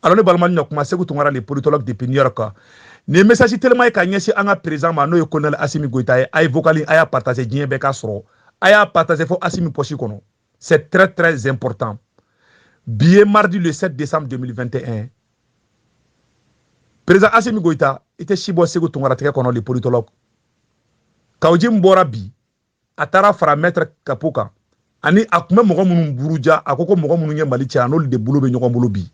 alors ne balima ɲɔ kuma seku tunkara le politologue depuis new york nin ye message teliman ye ka ɲɛsin an ka président ma n'o ye colonel asimi goyita ye a ye vocal a y'a partage diɲɛ bɛɛ k'a sɔrɔ a y'a partage fo asimi pɔsi kɔnɔ c'est très très important bi ye mardi le 7 décembre 2021 président asimi goyita i tɛ si bɔ seku tunkara tɛgɛ kɔnɔ le politologue kawjim bɔra bi a taara fara maitre tapo kan ani a tun bɛ mɔgɔ minnu buruja a ko ko mɔgɔ minnu ye mali cɛn a n'olu de bolo bɛ ɲɔgɔn bolo bi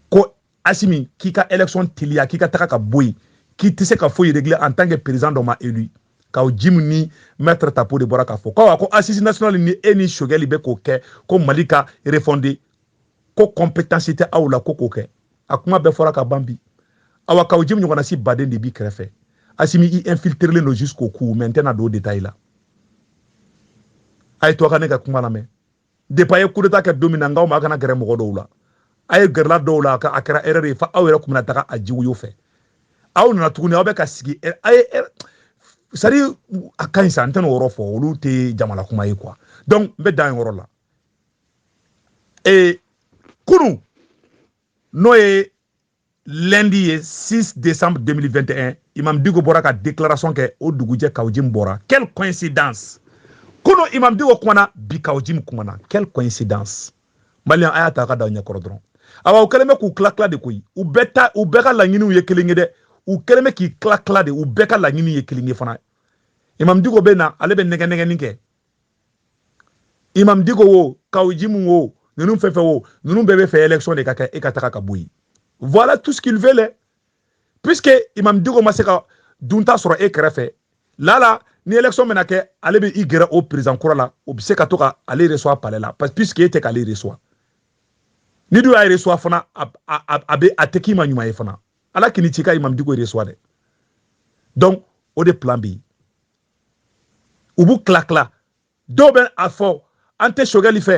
ko asimi k'i ka élection teliya k'i ka taga ka bɔ yen k'i tɛ se ka foyi régler en tant que président dɔ ma élu kawjim ni maitre tapo de bɔra k'a fɔ ko ko assise nationale ni e ni sogɛli bɛ k'o kɛ ko mali ka refondé ko compétence tɛ aw la ko k'o kɛ a kuma bɛɛ fɔra ka ban bi awa kawjim ɲɔgɔnna si baden de b'i kɛrɛfɛ asimi i infiltrelen don jusqu'au cou mais n tɛna don détail la a ye to ka ne ka kuma lamɛn depuis a ye coup d'état kɛ don min na n k'aw ma a kana gɛrɛ mɔgɔ dɔw la a ye gɛrɛla dɔw la a kɛra erreur ye fo aw yɛrɛ kun bɛna taga a jiwoyo fɛ aw nana tuguni aw bɛ ka sigi a ye sari a ka ɲi sa n tɛna o yɔrɔ fɔ olu tɛ jamana kuma ye quoi donc n bɛ dan yɔrɔ la ee kunu n'o ye lundi ye 6 décembre 2021 imam diko bɔra ka déclaration kɛ o dugujɛ kawjim bɔra quelle coïncidence kunu imam diko kumana bi kawjim kumana quelle coïncidence malien a y'a ta ka da ɲɛ kɔrɔ dɔrɔn awa u kɛlen bɛ k'u tila tila de koyi u bɛɛ ta u bɛɛ ka laɲiniw ye kelen ye dɛ u kɛlen bɛ k'i tila tila de u bɛɛ ka laɲiniw ye kelen ye fana imam diko bɛ na ale bɛ nɛgɛnɛgɛni kɛ imam diko wo kawjim wo ninnu fɛn fɛn wo ninnu bɛɛ b'a fɛ élection de ka kɛ e ka taga ka bɔ yen voilà tout ce qu'il veut là puisque imam diko ma se ka dunta sɔrɔ e kɛrɛfɛ lala ni élection bɛna kɛ ale bɛ i gɛrɛ o président kura la o bɛ se ka to ka ale reçoit palais la parce puisque e tɛ k'ale reçoit n'i dun y'a reçoit fana a a a bɛ a tɛ k'i ma ɲuman ye fana ala kan'i ci ka imam diko reçoit dɛ donc o de plan bɛ yen u b'u kila kila dɔw bɛ a fɔ an tɛ sogɛli fɛ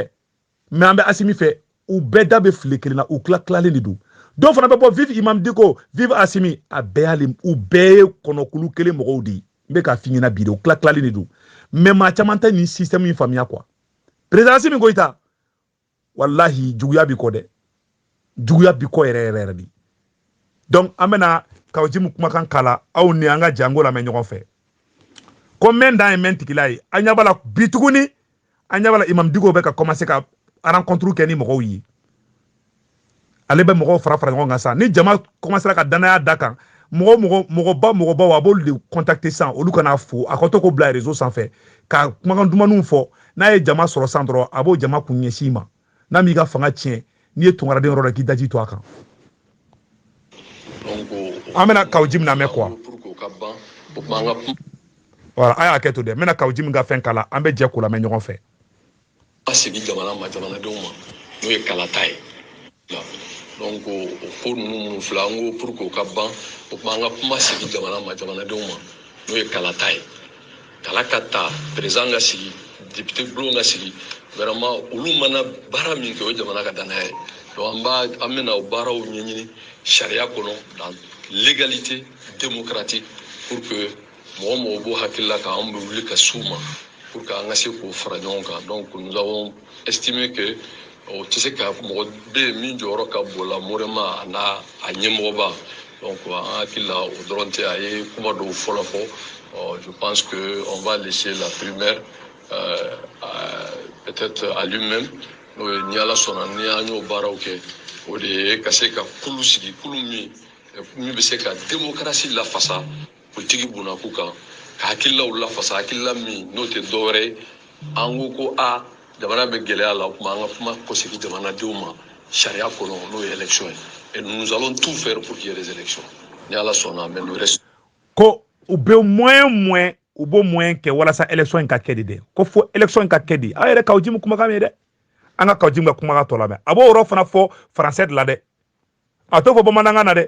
mais an bɛ asimi fɛ u bɛɛ da bɛ file kelen na u kila kilalen de don dɔw fana bɛ bɔ vive imam diko vive asimi a bɛɛ y'ale u bɛɛ ye kɔnɔkulu kelen mɔgɔw de ye n bɛ k'a f'i ɲɛna bi de u kila kilalen de don mais maa caman tɛ nin système in faamuya quoi président asimi goyita walahi juguya b'i kɔ dɛ juguya b'i kɔ yɛrɛ yɛrɛ yɛrɛ de donc an bɛna kawjim kumakan kala aw ni an ka jɛ k'o lamɛn ɲɔgɔn fɛ ko mɛn dan ye mɛn tigi la ye an ɲɛ b'a la bi tuguni an ɲɛ b'a la imam diko bɛ ka commencer ka rencontre kɛ ni mɔgɔw ye ale bɛ mɔgɔw fara fara ɲɔgɔn kan sa ni jama kɔmasera ka dannaya d'a kan mɔgɔ mɔgɔ mɔgɔba mɔgɔbaw a b'olu de kɔntakite san olu kana fo a ka to k'o bila rezo sanfɛ ka kumakan dumanw fɔ n'a ye jama sɔrɔ san dɔrɔn a b'o jama kun ɲɛsin i ma n'a m'i ka fanga tiɲɛ n'i ye tungaraden yɔrɔ la k'i daji to a kan an bɛna kaw jimu lamɛn quoi voilà a y'a kɛ to dɛ n bɛna kaw jimu ka fɛn kalan an bɛ jɛ k'o lamɛn ɲɔgɔn fɛ Ka segin jamana ma jamanadenw ma n'o ye kalata ye donc o ko ninnu minnu filɛ an ko pour que o ka ban o tuma an ka kuma segin jamana ma jamanadenw ma n'o ye kalata ye kala ka ta perezidan ka sigi depite bulon ka sigi vraiment olu mana baara min kɛ o ye jamana ka dannaya ye donc an b'a an bɛna o baaraw ɲɛɲini sariya kɔnɔ dans légalité démocratique pour que mɔgɔ o mɔgɔ b'o hakilila kan anw bɛ wuli ka s'u ma pour que an ka se k'o fara ɲɔgɔn kan donc nous avons estimé que o tɛ se ka mɔgɔ bɛ yen min jɔyɔrɔ ka bon la moralement a n'a a ɲɛmɔgɔba donc an hakili la o dɔrɔn tɛ a ye kuma dɔw fɔlɔ fɔ ɔ je pense que on va laisser la primeur euh, peut-être à lui-même n'o ye ni ala sɔnna ni an y'o baaraw kɛ o de ye ka se ka kulu sigi kulu min min bɛ se ka demokarasi lafasa Politiki bunakun kan, ka hakililaw lafasa, hakilila min n'o tɛ dɔwɛrɛ ye, an ko ko a jamana bɛ gɛlɛya la, o tuma an ka kuma kɔsegin jamanadenw ma sariya kɔnɔ n'o ye élection ye et nous allons tout faire pour qu'il y ait des élections ni Ala sɔnna mais le reste ko u bɛ moyen moyen u b'o moyen kɛ walasa élection in ka kɛ de dɛ ko fo élection in ka kɛ de aw yɛrɛ kaw jimu kumakan mɛn dɛ an ka kaw jimu ka kumakan tɔ lamɛn a b'o yɔrɔ fana fɔ français de la dɛ a t'o fɔ bamanankan na dɛ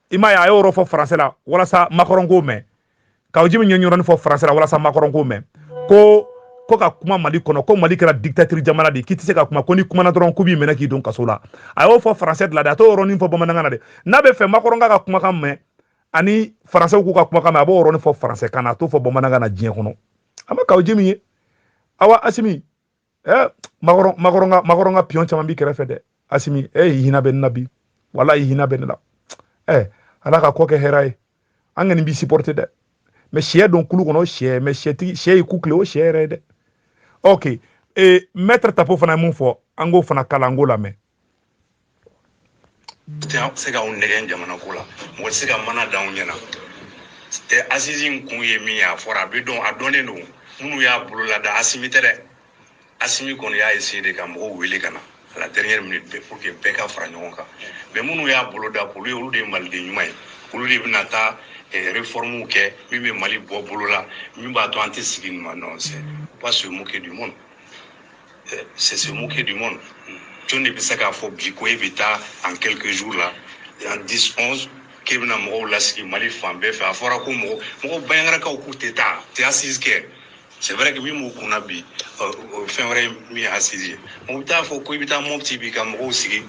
i m'a ye a y'o yɔrɔ fɔ faransɛ la walasa makɔrɔn k'o mɛn kaw jimu y'o yɔrɔnin fɔ faransɛ la walasa makɔrɔn k'o mɛn ko ko ka kuma mali kɔnɔ ko mali kɛra dictature jamana de k'i tɛ se ka kuma ko n'i kumana dɔrɔn k'u b'i minɛ k'i don kaso la a y'o fɔ faransɛ de la dɛ a t'o yɔrɔnin fɔ bamanankan na de n'a b'a fɛ makɔrɔn k'a ka kumakan mɛn ani faransɛw k'u ka kumakan mɛn a b'o yɔrɔnin fɔ faransɛ kan na a t'o fɔ bamanankan na diɲɛ kɔnɔ a ma kaw jimu ye awa asimi eh makɔrɔn makɔrɔn ka makɔrɔn ka pion caman b'i kɛrɛfɛ dɛ asimi eh hina bɛ n na bi walayi hina bɛ n la eh ala k'a kɔ kɛ hɛrɛ ye an kɔni b'i supporter dɛ mais sɛ don kulu kɔnɔ sɛ mɛ sɛtigi sɛ ye ku kile o sɛ yɛrɛ ye dɛ ok ee mɛtre tapo fana ye mun fɔ an k'o fana kalan an k'o lamɛn tɛ se k'anw nɛgɛn jamana ko la mɔgɔ tɛ se ka mana d'anw ɲɛna tɛ assises in kun ye min ye a fɔra a bɛ dɔn a dɔnnen don minnu y'a bolo lada asimi tɛ dɛ asimi kɔni y'a essayé de ka mɔgɔw wele ka na à la dernière minute bɛɛ pour que bɛɛ ka fara ɲɔgɔn kan mais minnu y'a boloda k'olu ye olu de ye maliden ɲuman ye olu de bɛna taa eh, réforme kɛ min bɛ mali bɔ bolo la min b'a to an tɛ segin nin ma non c'est pas se moquer du monde euh, c'est se moquer du monde jɔn de bɛ se k'a fɔ bi ko e bɛ taa en quelques jours là en 10 11 k'e bɛna mɔgɔw lasigi mali fan bɛɛ fɛ a fɔra ko mɔgɔ mɔgɔ bandiagarakaw k'u tɛ taa tɛ assise kɛ c'est vrai que min b'u kunna bi euh, euh, fɛn wɛrɛ ye min ye assise ye u bɛ taa fɔ ko i bɛ taa mɔpti bi ka mɔgɔw sigi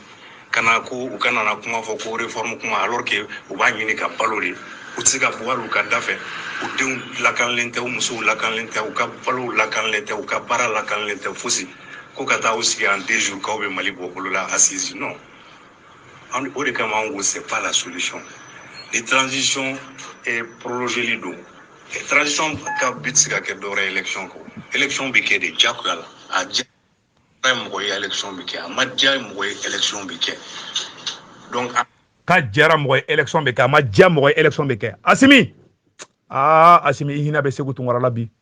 ka na ko u ka na kuma fɔ ko réforme kuma alors que u b'a ɲini ka balo de u tɛ se ka bɔ hali u ka da fɛ u denw lakanalen tɛ u musow lakanalen tɛ u ka balow lakanalen tɛ u ka baara lakanalen tɛ fosi ko ka taa u sigi en deux jours k'aw bɛ mali bɔ bolo la assise non an o de kama an ko c'est pas la solution ni transition eh, prolongeli don eh, transition ka but tɛ se ka kɛ dɔwɛrɛ élection kɔ élection bɛ kɛ de diyagoya la a diya mɔgɔ ye élection bɛ kɛ a ma diya mɔgɔ ye élection bɛ kɛ donc a diyara mɔgɔ ye élection bɛ kɛ a ma diya mɔgɔ ye élection bɛ kɛ asimi aa asimi i hinɛ bɛ seku tunkara la bi